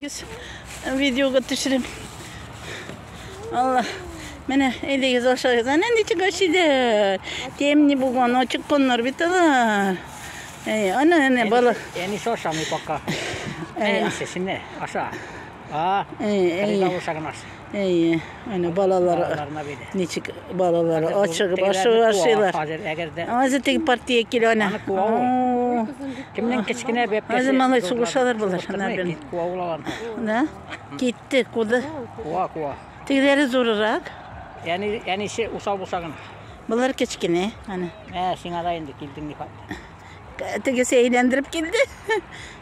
Видеога төшерем. Алла. Менә әйдәгез ашагыз. Әнә ничек ашыйлар. Темни булган, ачык коннар бит алар. Әй, ана, әнә бала. Әни ашамый пока. Әй, сесене аша. А, әй, әй. Әй, Әйе, әнә балалар ничек балалар ачыгып ашыгып ашыйлар. Азы теге партия килә ана. Кемнән кечкенә бәп. Азы малай сугышалар булар. Да? Китте, куды. Куа, куа. Тегеләре зурырак. Яни, яни се усал булса гына. Булар кечкенә, ана. Ә, сиңа да инде килдең ни хат. Тегесе әйләндереп килде.